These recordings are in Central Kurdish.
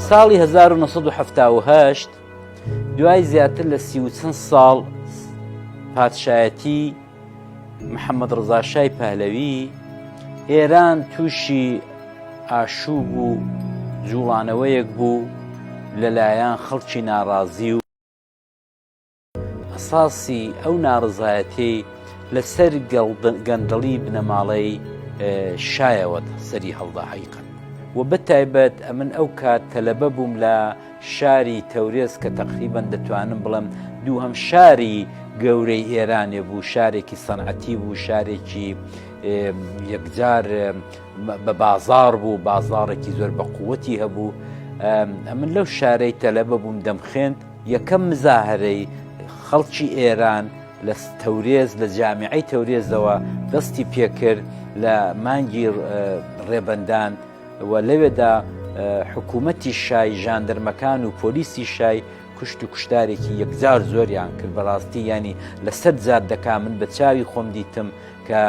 ساڵی 1970 دوای زیاتر لە سی و چەند ساڵ پادشایەتی محەممەد ڕزا شای پەهلەوی ئێران تووشی ئاشوو بوو جوڵانەوەیەک بوو لەلایەن خەڵکی ناڕازی و ئەساسی ئەو ناڕزایەتی لەسەر گەندەڵی بنەماڵەی شایەوە سەری هەڵدا حیقن و بە تایبەت ئەمن ئەو کات تەلەبە بووم لە شاری تەورێز کە تەقریبەن دەتوانم بڵێم دووهەم شاری گەورەی ئێرانێ بوو شارێکی سەنعەتی بوو شارێکی یەکجار بە بازار بوو بازارێکی زۆر بە قووەتی هەبوو ئەمن لەو شارەی تەلەبە بووم دەمخێند یەکەم مزاهرەی خەڵکی ئێران لە تەورێز لە جامیعی تەورێزەوە دەستی پێکرد لە مانگی ڕێبەندان و لەوێدا حکوومەتی شای ژاندرمەکان و پۆلیسی شای کوشت و کوشتارێکی یەکجار زۆریان کرد بەڕاستی ینی لە سەر جار دەکا من بە چاوی خۆم دیتم کە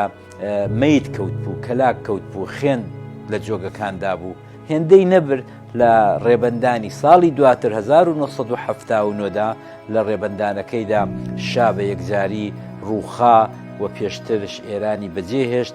میت کەوت بوو کەلاک کەوت بوو خوێن لە جۆگەکاندا بوو هێندەی نەبرد لە ڕێبندانی ساڵی دواتر 1970دا لە ڕێبندانەکەیدا شا بە یەکجاری ڕووخا و پێشترش ئێرانی بەجێهێشت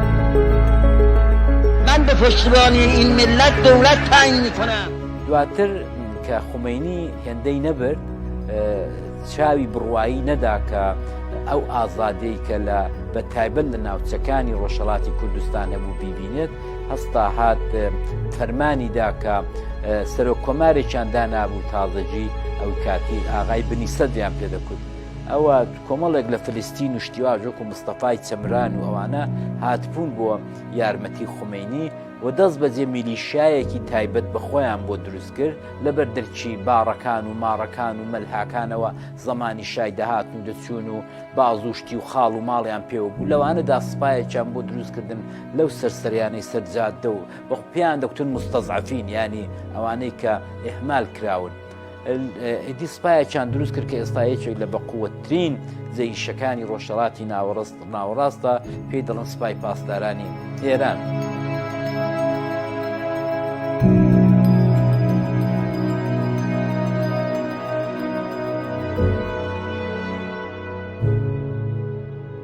من به پشتیبانی این ملت دولت تعیین میکنم. دواتر کە خومەینی هێندەی نەبرد چاوی بڕوایی نەدا کە ئەو ئازادەی کە لە بە تایبەت لە ناوچەکانی ڕۆژهڵاتی کوردستان هەبوو بیبینێت هەستا هات فەرمانی داکە سەرۆک کۆمارێکیان دانابوو تازەجی ئەو کاتی ئاغای بنی سەدیان پێدەکوت ئەوە کۆمەڵێک لە فلستین و شتیواژ وەکو مستەفای چەمران و ئەوانە هاتبوون بۆ یارمەتی خومینی و دەست بەجێ میلیشایەکی تایبەت بە خۆیان بۆ دروست کرد لە بەردەرچی باڕەکان و ماڕەکان و مەلهاکانەوە زمانی شای دەهاتن و دەچوون و بازوشتی و خاڵ و ماڵیان پێوە بوو لەوانەدا سپایەکیان بۆ دروستکردن لەو سەرسەریانەی سەرجادە و وەخ پێیان دەکوتن مستەزعفین ینی ئەوانەی کە ئهمال کراون ئیدی سپایەکیان دروست کرد کە ئێستا یەکێک لە بەقوتترین جەیشەکانی ڕۆژهڵاتی ناوەڕست ناوەڕاستە پێی دەڵن سپای پاسدارانی ئێران.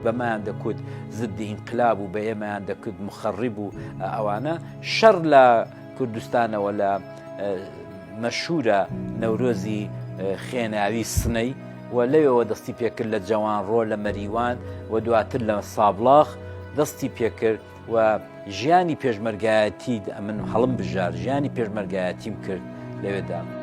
بەمایان دەکوت زدی ئینقلاب و بە ئێمەیان دەکرد مخەڕی بوو ئەوانە شەر لە کوردستانەوە لە مەشورە نەورۆزی خێناوی سنەی و لەوەوە دەستی پێکرد لە جەوان ڕۆ لە مەریوان و دواتر لە سابلاخ دەستی پێکرد و ژیانی پێشمەرگایەتی ئەمن هەڵم بژار ژیانی پێشمەرگایەتیم کرد لەوێدا.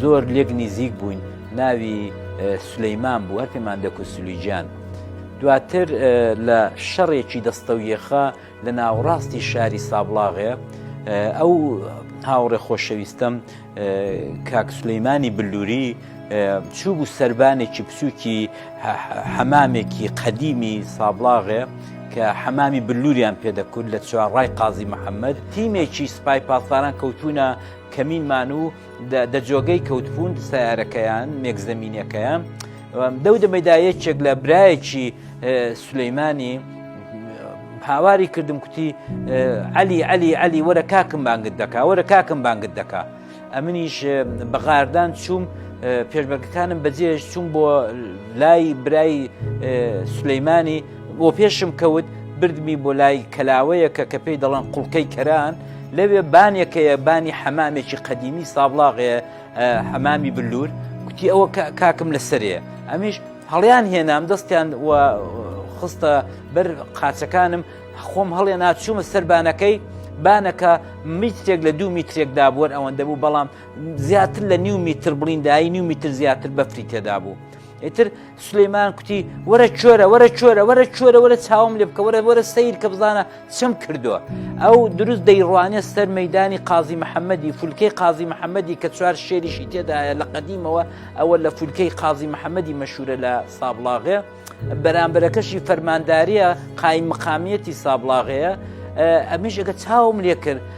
زۆر لێک نیزیک بووین ناوی سلیمان بوو هەر پێمان دەکوت سلیجان دواتر لە شەڕێکی دەستەویەخە لە ناوڕاستی شاری سابڵاغێ ئەو هاوڕێ خۆشەویستم کاک سلەیمانی بلووری چوو بوو سربانێکی بچووکی حەمامێکی قەدیمی سابڵاغێ کە حەمامی بلووریان پێدەکرد لە چوارڕای قازی محەممەد تیمێکی سپای پاسداران کەوتونە کەمینمان و دە جۆگەی کەوتپوند سیارەکەیان مێک زمینینەکەیان دەو دەمەدا یەکێک لە برایەکی سلەیمانی هاواری کردم کوتی علی علی علی وەرە کاکم بانگت دەکا وەرە کاکم بانگت دەکا ئەمنیش بەغاردان چوم پێشبەرگەکانم بەجێش چوم بۆ لای برای سلەیمانی بۆ پێشم کەوت بردمی بۆ لای کەلاوەیەکە کە پێی دەڵان قوڵکەی کەران لەوێ بانێک هەیە بانی حەمامێکی قەدیمی سابلاغێ حەمامی بلور کوتی ئەوە کاکم لەسەرێ ئەمیش هەڵیان هێنام دەستیان خستە بەر قاچەکانم خۆم هەڵێ ناچوومە سەربانەکەی بانەکە میترێک لە دوو میترێکدا بووەر ئەوەندە بوو بەڵام زیاتر لە نیو میتر بڵیندایی نیو میتر زیاتر بەفری تێدا بوو. ئیتر سلەیمان کوتی وەرە چۆرە وەرە چۆرە وەرە چۆرە وەرە چاوم لێ بکە وەرە وەرە سیر کە بزانە چم کردووە ئەو دروست دەیڕوانێ سەر مەدانی قازی محەممەدی فولکەی قازی محەممەدی کە چوار شێریشی تێدایە لە قەدیمەوە ئەوە لە فولکەی قازی محەممەدی مەشورە لە سابڵاغێ بەرامبەرەکەشی فەرمانداریە قایم مقامیەتی سابڵاغەیە ئەمیش ئەگە چاوم لێ کرد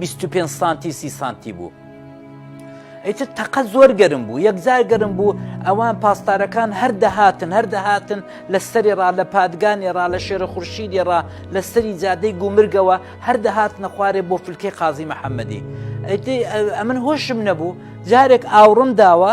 بیست و پێنج سانتی سی سانتی بوو ئیتر تەقە زۆر گەرم بوو یەکجار گەرم بوو ئەوان پاسدارەکان هەر دەهاتن هەر دەهاتن لە سەری ڕا لە پادگانی ڕا لە شێرە خورشیدی ڕا لە سەری جادەی گومرگەوە هەر دەهاتنە خوارێ بۆ فلکەی قازی محەممەدی ئەمن هۆشم نەبوو جارێک ئاوڕم داوە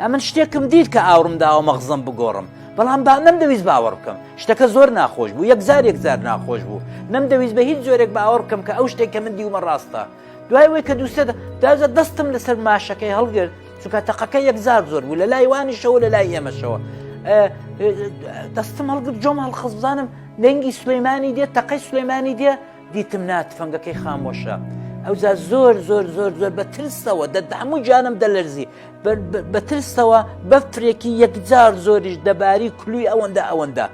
ئەمن شتێکم دیت کە ئاوڕم داوە مەغزم بگۆڕم بەڵام با نەمدەویست باوەڕ بکەم شتەکە زۆر ناخۆش بوو یەکزار یەکزار ناخۆش بوو نەمدەویست بە هیچ جۆرێک باوەڕ بکەم کە ئەو شتێک کە من دیومە ڕاستە دوای وەی کە دووسێت داجە دەستم لەسەر ماشەکەی هەڵگرت چونکە تەقەکە یەکزار زۆر بوو لە لای وانیشەوە لە لای ئێمەشەوە دەستم هەڵگرت جۆم هەڵخەزبزانم دەنگی سلەیمانی دێت تەقەی سلەیمانی دێ دیتم نا تفەنگەکەی خامۆشە ئەوجا زۆر زۆر زۆر زۆر بە ترسەوە دەدا هەموو جانم دەلەرزی بە ترسەوە بەفرێکی یەکجار زۆریش دەباری کلوی ئەوەندە ئەوەندە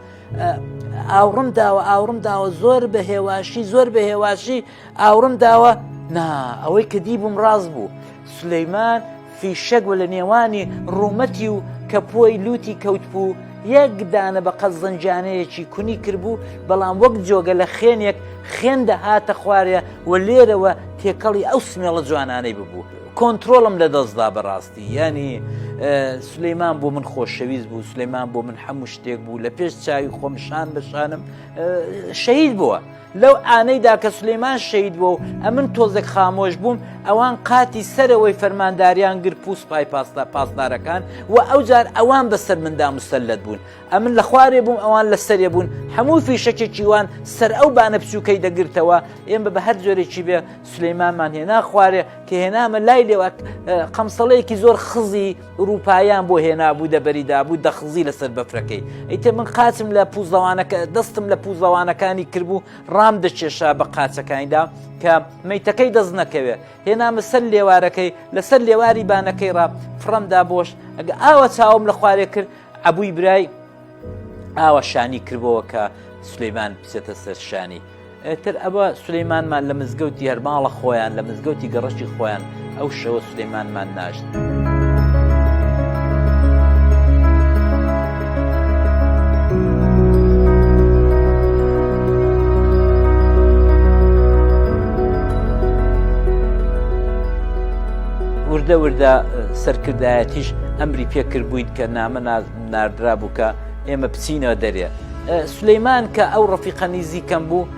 ئاوڕم داوە ئاوڕم داوە زۆر بە هێواشی زۆر بە هێواشی ئاوڕم داوە نا ئەوەی کە دی بووم ڕاست بوو سلەیمان فیشەک و لە نێوانی ڕوومەتی و کەپووی لووتی کەوتبوو، یەک دانە بە قەد زنجانەیەکی کونی کربوو، بەڵام وەک جۆگە لە خێنێک خێن دەهاتە خوارێ و لێرەوە تێکەڵی ئەو سمێڵە جوانانەی ببوو، کۆنترۆڵم لە دەست دا بەڕاستی، یانی سولەیمان بۆ من خۆشەویست بوو، سولەیمان بۆ من هەموو شتێک بوو، لە پێش چاوی خۆم شان بە شانم شەهید بووە. لەو ئانەیدا کە سلێمان شەید بوو و ئەمن تۆزێک خامۆش بووم ئەوان قاتی سەرەوەی فەرمانداریان گر پوست پای پاستا پاسدارەکان و ئەو جار ئەوان بەسەر مندا مسللت بوون ئەمن لە خوارێ بووم ئەوان لە سەرێ بوون هەموو فیشەکێکی وان سەر ئەو بانە بچووکەی دەگرتەوە ئێمە بە هەر جۆرێکی بێ سلەیمانمان هێنا خوارێ کە هێنامە لای لێوە قەمسەڵەیەکی زۆر خزی ئورووپاییان بۆ هێنابوو دەبەری دابوو دەخزی لەسەر بەفرەکەی ئیتر من قاچم لە پوزەوانەکە دەستم لە پوزەوانەکانی کردبوو ڕام دەچێشا بە قاچەکانیدا کە میتەکەی دەست نەکەوێت هێنامە سەر لێوارەکەی لەسەر لێواری بانەکەی ڕا فڕەمدا بۆش ئەگە ئاوە چاوم لە خوارێ کرد عبووی برای ئاوا شانی کردەوە کە سلەیمان بچێتە سەرشانی تر ئەوە سلەیمانمان لە مزگەوتی هەرماڵە خۆیان لە مزگەوتی گەڕشی خۆیان ئەو شەوە سلەیمانمان ناشت. وردە وردە سەرکردایەتیش ئەمری پێکرد بوویت کە نامە ناز ناردرابوو کە ئێمە بچینەوە دەرێ سلەیمان کە ئەو ڕفیقە نیزیکەم بوو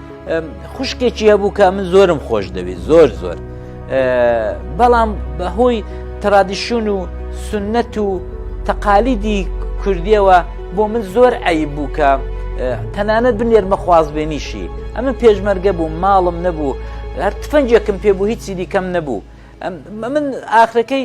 خوشکێکی هەبوو کە من زۆرم خۆش دەوێت زۆر زۆر بەڵام بەهۆی ترادیشون و سنت و تەقالیدی کوردیەوە بۆ من زۆر ئەی بوو کە تەنانەت بنێرمە خوازبێنیشی ئەمە پێشمەرگە بوو ماڵم نەبوو هەر تفەنجێکم پێ بوو هیچی دیکەم نەبوو من ئاخرەکەی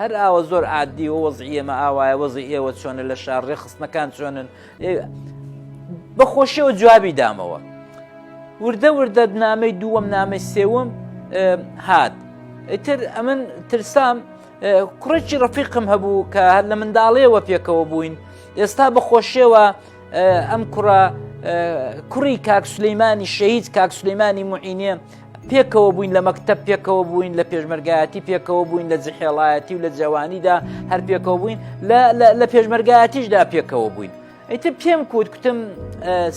هەر ئاوا زۆر عادی و وەزعی ئێمە ئاوایە وەزی ئێوە چۆنە لە شار ڕێخستنەکان چۆنن بە خۆشیەوە جوابی دامەوە وردە وردە نامەی دووەم نامەی سێوم هات ئیتر ئەمن ترسام کوڕێکی ڕفیقم هەبوو کە هەر لە منداڵێەوە پێکەوە بووین ئێستا بە خۆشیەوە ئەم کوڕە کوڕی کاک سلەیمانی شەهید کاک سلەیمانی معینێ پێکەوە بووین لە مەکتب پێکەوە بووین لە پێشمەرگایەتی پێکەوە بووین لە جحێڵایەتی و لە جوانیدا هەر پێکەوە بووین لە پێشمەرگایەتیشدا پێکەوە بووین ئەیتر پێم کووت کوتم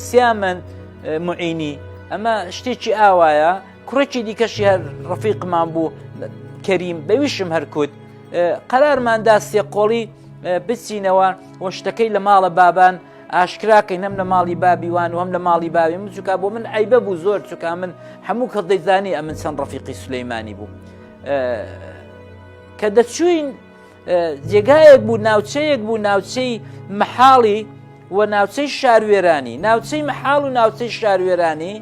سیامەند معینی ئەمە شتێکی ئاوایە کوڕێکی دیکەشی هەر ڕفیقمان بوو کەریم بەویشم هەرکوت قەرارماندا سێقۆڵی بچینەوە وە شتەکەی لە ماڵە بابان ئاشکرا کەین هەم لە ماڵی بابی وان و هەم لە ماڵی باوی من چکا بۆ من ئەیبە بوو زۆر چکا من هەموو کەس دەیزانی ئەمن چەند ڕفیقی سلەیمانی بوو کە دەچوین جێگایەک بوو ناوچەیەک بوو ناوچەی محاڵی و ناوچەی شاروێرانی ناوچەی محاڵ و ناوچەی شاروێرانی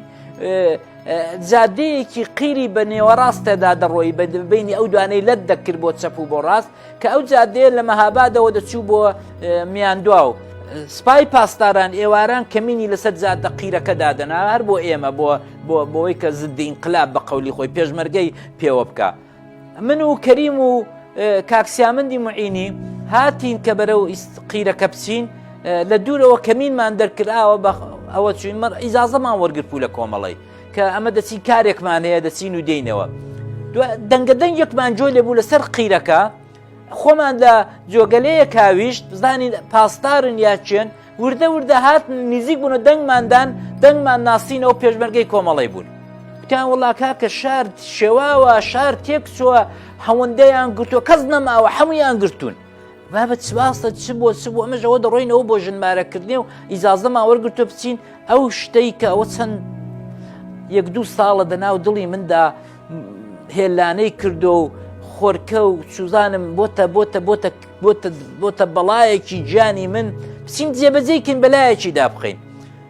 جادەیەکی قیری بە نێوەڕاستەدا دەڕۆی بە بینی ئەو دوانەی لەت دەکرد بۆ چەپ و بۆ ڕاست کە ئەو جادەیە لە مەهابادەوە دەچوو بۆ میاندوا و سپای پاسداران ئێواران کەمینی لەسەر جادە قیرەکە دادەنا هەر بۆ ئێمە بۆ بۆ بۆی کە زدی ئینقلاب بە قولی خۆی پێشمەرگەی پێوە بکە من و کەریم و کاکسیامەندی معینی هاتین کە بەرەو قیرەکە بچین لە دوورەوە کەمینمان دەرکراوە بە ئەوە چوین مەر ئیزازەمان وەرگرت پوو لە کۆمەڵی کە ئەمە دەچین کارێکمان هەیە دەچین و دێینەوە دەنگە دەنگێکمان جۆ لێبوو لەسەر قیرەکە خۆمان لە جۆگەلەیە کاویشت بزانین پاسدارن یاچێن وردە وردە هات نزیک بوون و دەنگماندان دەنگمان ناسینەوە پێشمەرگەی کۆمەڵی بوون وتیان وڵا کاکە شار شێواوە شار تێک چووە هەوەندەیان گرتووە کەس نەماوە هەمویان گرتوون بابە چواستە چ بۆ چ بۆ ئەمەش ئەوە دەڕۆینەوە بۆ ژنمارەکردنی و ئیزازەمان وەرگتو بچین ئەو شتەی کە ئەوە چەند یەک دوو ساڵە دەناو دڵی مندا هێلانەی کردو و خۆرکە و سوزانم بۆتە بۆتە بۆتە بۆتە بۆتە بەڵایەکی گیانی من بچین جێبەجێکن بەلایەکی دابخین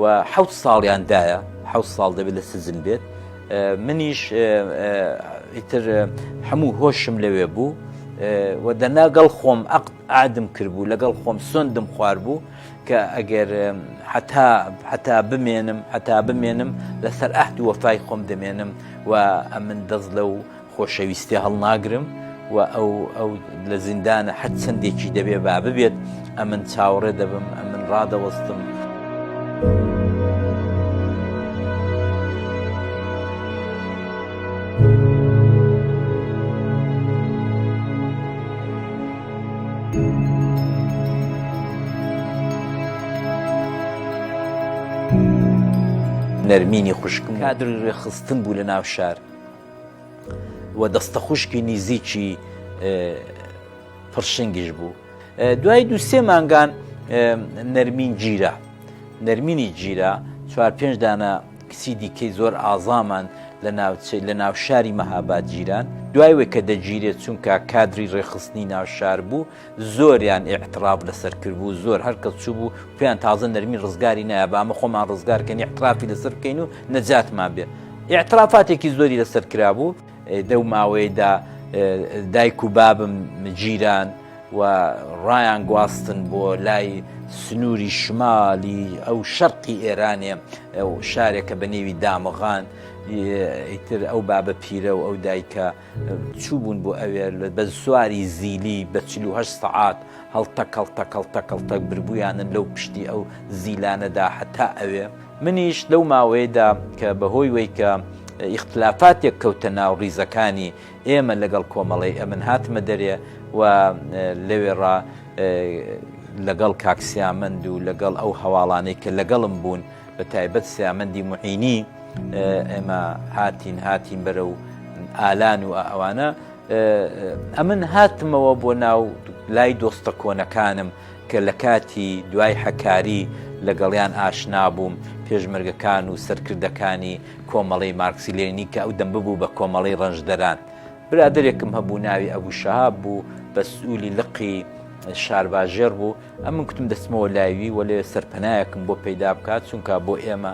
و حەوت ساڵیان دایە حەوت ساڵ دەبێت لە سجن بێت منیش ئیتر هەموو هۆشم لەوێ بوو و دەناگەڵ خۆم ئەقد ئادم کردبوو لەگەڵ خۆم سندم خوار بوو کە ئەگەر حتا حتا بمێنم حتا بمێنم لەسەر ئەهد وەفای خۆم دەمێنم و ئەمن دەست لە و خۆشەویستێ هەڵناگرم و ئەو ئەو لە زیندانە هەر چەندێکی دەبێ با ببێت ئەمن چاوەڕێ دەبم ئەمن ڕادەوەستم. نەرمینی خوشکم کادر ڕێخستن بوو لە ناو شار و دەستەخوشکی نیزیکی پڕشنگیش بوو دوای دو سێ مانگان نەرمین گیرە نەرمینی گیرە چوار پێنج دانە کچی دیکەی زۆر ئازامان لە ناوچەی لە ناوشاری مەهاباد گیران دوایوە کە دەگیرێت چونکە کادری ڕێخستنی ناوشار بوو زۆریان ئیعتراف لەسەر کردبوو زۆر هەر کەس چوو بوو پێیان تازە نەرمی ڕزگاری نایە بامە خۆمان ڕزگارکەن ئیعترافی لەسەر بکەین و نەجاتمان بێ ئیعترافاتێکی زۆری لەسەر کرابوو دەو ماوەیەدا دایک و بابم جیران و ڕایان گواستن بۆ لای سنووری شمالی ئەو شەرقی ئێرانێ شارێکە بە نێوی دامغان ئیتر ئەو بابە پیرە و ئەو دایکە چووبوون بۆ ئەوێ بە سواری زیلی بە چل و هەشت سەعات هەڵتەک هەڵتەک هەڵتەک هەڵتەک بربوویانن لەو پشتی ئەو زیلانەدا هەتا ئەوێ منیش لەو ماوەیەدا کە بەهۆی وەی کە ئیختلافاتێک کەوتە ناو ڕیزەکانی ئێمە لەگەڵ کۆمەڵی ئەمن هاتمە دەرێ و لەوێڕا لەگەڵ کاکسیامەند و لەگەڵ ئەو هەواڵانەی کە لەگەڵم بوون بەتایبەت سیامەندی معینی ئێمە هاتین هاتین بەرە و ئالان و ئەوانە ئەمن هاتمەوە بۆ ناو لای دۆستە کۆنەکانم کە لە کاتی دوای حەکاری لەگەڵیان ئاشنا بووم پێشمەرگەکان و سەرکردەکانی کۆمەڵی مارکسیلێنی کە ئەو دەم ببوو بە کۆمەڵی ڕەنجدەران برادێکم هەبوو ناوی ئەبوو شەهاب بوو بە سوولی لقی شارباژێر بوو ئەمن کوتم دەچمەوە لایوی وە لێ سەرپەنایەکم بۆ پەیدا بکات چونکە بۆ ئێمە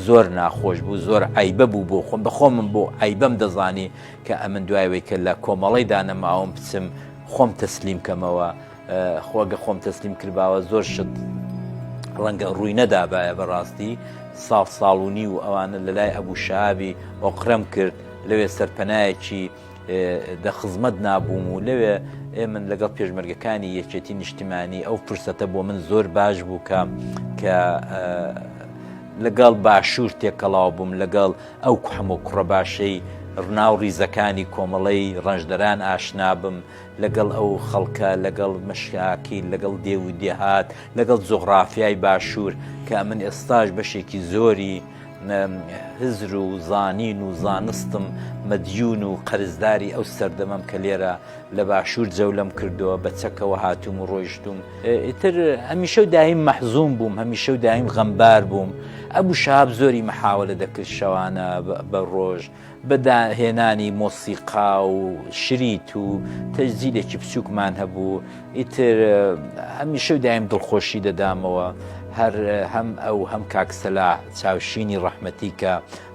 زۆر ناخۆش بوو زۆر عیبە بوو بۆ خۆم بەخۆمم بۆ عیبەم دەزانی کە ئەمن دوایەوەی کە لە کۆمەڵی دانەماوم بچم خۆم تەسلیم کەمەوە خۆگە خۆم تەسلیم کردباوە زۆر شت ڕەنگە ڕووی نەدابایە بەڕاستی ساڵ ساڵونی و ئەوانە لەلای ئەبوو شابی ئۆقرەم کرد لەوێ سەرپەنایەکی دە خزمەت نابووم و لەوێ ئێ من لەگەڵ پێشمەرگەکانی یەکێتی نیشتیمانی ئەو فرسەتە بۆ من زۆر باش بوو کە کە لەگەڵ باشوور تێکەڵاو بووم لەگەڵ ئەو کوحم و کوڕە باشەی ڕناو ڕیزەکانی کۆمەڵەی ڕەنجدەران ئاشنابم لەگەڵ ئەو خەڵکە لەگەڵ مەشاکی لەگەڵ دێ و دێهات لەگەڵ جۆغرافیای باشوور کە من ئێستاش بەشێکی زۆری من هزر و زانین و زانستم مەدیون و قەرزداری ئەو سەردەمەم کە لێرە لە باشوور جەولەم کردووە بە چەکەوە هاتووم و ڕۆیشتوم ئیتر هەمیشە و دایم مەحزوم بووم هەمیشە و دایم غەمبار بووم ئەبوو شاب زۆری مەحاوە لە دەکرد شەوانە بە ڕۆژ بە داهێنانی مۆسیقا و شریت و تەجزیلێکی بچووکمان هەبوو ئیتر هەمیشە و دایم دڵخۆشی دەدامەوە هەر هەم ئەو هەم کاکسەلا چاوشینی ڕەحمەتی کە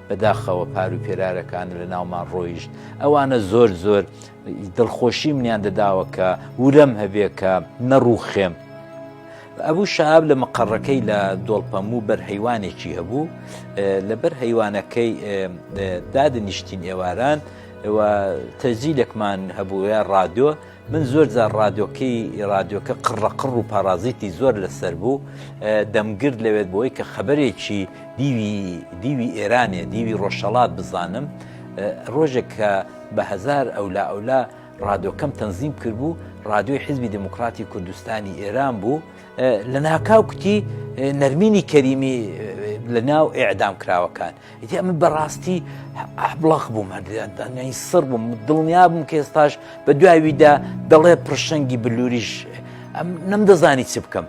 بەداخەوە پار و پێرارەکان لە ناومان ڕۆیشت ئەوانە زۆر زۆر دڵخۆشی منیان دەداوە کە ورەم هەبێ کە نەڕووخێم ئەبوو شاب لە مقڕەکەی لە دۆڵپەموو بەر هەیوانێکی هەبوو لەبەر هەیوانەکەی دادنیشتین ئێواران تەزیلێکمان هەبووە ڕادۆ من زۆر جار ڕادۆکەی ڕادۆکە قڕەقڕ و پارازیتی زۆر لەسەر بوو دەمگرد لەوێت بۆی کە خەبەرێکی دیوی دیوی ئێرانێ دیوی ڕۆژەڵات بزانم ڕۆژێک کە بە هەزار ئەولا ئەولا ڕادۆکەم تەنزیم کرد بوو ڕادیۆی حزبی دموکراتی کوردستانی ئێران بوو لە ناکاو کوتی نەرمینی کەریمی لە ناو ئێعدام کراوەکان ئیتی ئەمە بەڕاستی ئەبڵەخ بووم هەردانیانی سڕ بووم دڵنیا بووم کە ئێستاش بە دوایویدا دەڵێ پرشنگی بلووریش ئەم نەمدەزانی چ بکەم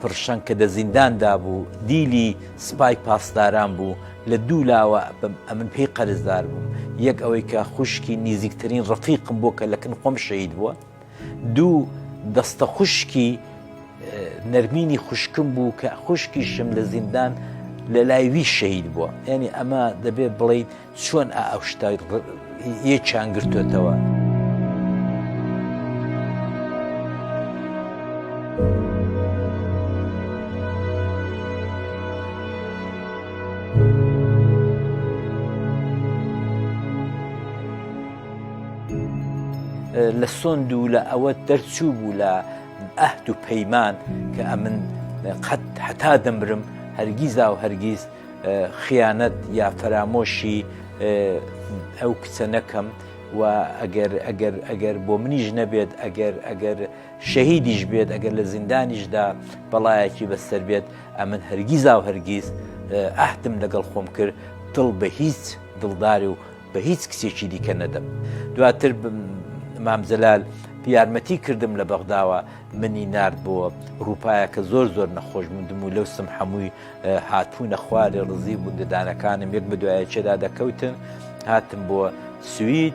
پرشەنگ کە دە زیندان دا بوو دیلی سپای پاسداران بوو لە دوو لاوە ئەمن پێی قەرزدار بووم یەک ئەوەی کە خوشکی نیزیکترین ڕفیقم بووە کە لە کن خۆم شەید بووە دوو دەستە خوشکی نەرمینی خوشکم بوو کە خوشکیشم لە زیندان لە لای وی شەید بووە یعنی ئەمە دەبێت بڵیت چۆن ئا ئەو شتە یەکیان گرتوێتەوە؟ لە سۆند و لە ئەوە دەرچوو بوو لە ئەهد و پەیمان کە ئەمن قەت حتا دەمرم هەرگیزا و هەرگیز خیانەت یا فەرامۆشی ئەو کچە نەکەم و ئەگەر ئەگەر ئەگەر بۆ منیش نەبێت ئەگەر ئەگەر شەهیدیش بێت ئەگەر لە زیندانیشدا بەڵایەکی بەسەر بێت ئەمن هەرگیزا و هەرگیز ئەهدم لەگەڵ خۆم کرد دڵ بە هیچ دڵداری و بە هیچ کچێکی دیکە نەدەم دواتر مامجلال یارمەتی کردم لە بەغداوە منی نرد بۆ ڕووپایەکە زۆر زۆر نەخۆش مندم و لەو سم حەمووی هاتوونە خوارێ ڕزی و گوندەدانەکانم یەک بەدوایەکێدا دەکەوتن هاتم بۆ سوید.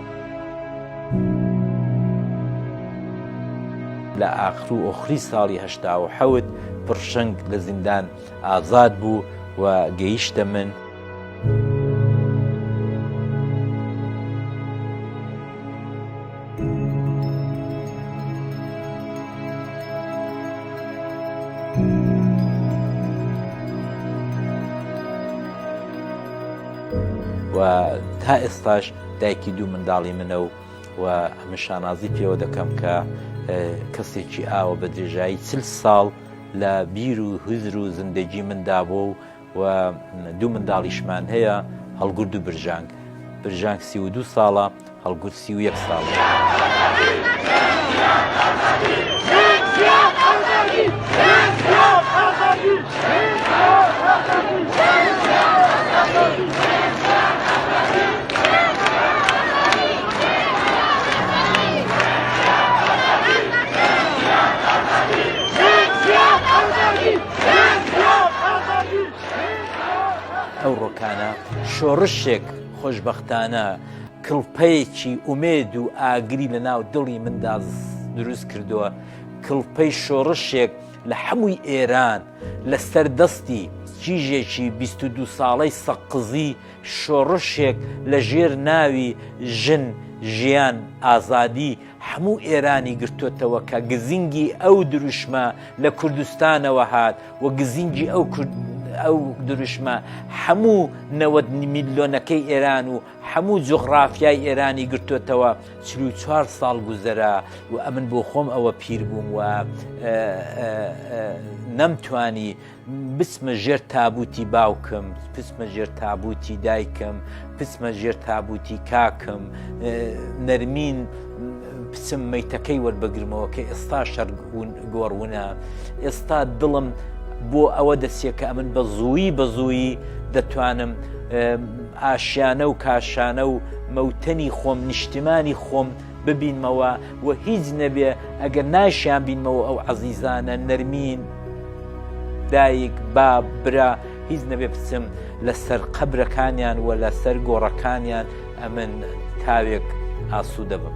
لە ئاخر و ئۆخری ساڵی هەشتا و حەوت پڕشنگ لە زیندان ئازاد بوو و گەیشتە من. و تا ئێستاش دایکی دوو منداڵی منە و و من شانازی پێوە دەکەم کە کەسێکی ئاوە بە درێژایی چل ساڵ لە بیر و هزر و زندگی مندا بۆ و و دوو منداڵیشمان هەیە هەڵگرد و برژانگ برژانگ سی و دوو ساڵە هەڵگرد سی و یەک ساڵە. Thank you. ئەو ڕۆکانە شۆڕشێک خۆشببختانە کڵپەیەکی ئومێد و ئاگری لە ناو دڵی مندا دروست کردووە کڵپەی شۆڕشێک لە حەمووی ئێران لە سەر دەستی کیژێکی بیست و دوو ساڵەی سەققزی شۆڕشێک لە ژێر ناوی ژن ژیان ئازادی حەموو ئێرانی گرتوتەوە کە گزینگی ئەو دروشمە لە کوردستانەوە هات و گزینگی ئەو کورد ئەو دروشمە حەموو نەوەد میلیۆنەکەی ئێران و هەموو جوغڕافیای ئێرانی گرتۆتەوە چل و چوار ساڵ گوزەرا و ئەمن بۆ خۆم ئەوە پیر بووم و نەمتوانی بچمە ژێر تابوتی باوکم پچمە ژێر تابوتی دایکم پچمە ژێر تابوتی کاکم نەرمین بچم مەیتەکەی وەربگرمەوە کە ئێستا شەر گۆڕونە ئێستا دڵم بۆ ئەوە دەسیە کە ئەمن بە زووی بە زووی دەتوانم ئاشیانە و کاشانە و مەوتەنی خۆم نیشتیمانی خۆم ببینمەوە و هیچ نەبێ ئەگەر ناشیان بینمەوە ئەو عەزیزانە نەرمین دایک باب برا هیچ نەبێ بچم لەسەر قەبرەکانیان و لەسەر گۆڕەکانیان ئەمن تاوێک ئاسوو دەبم.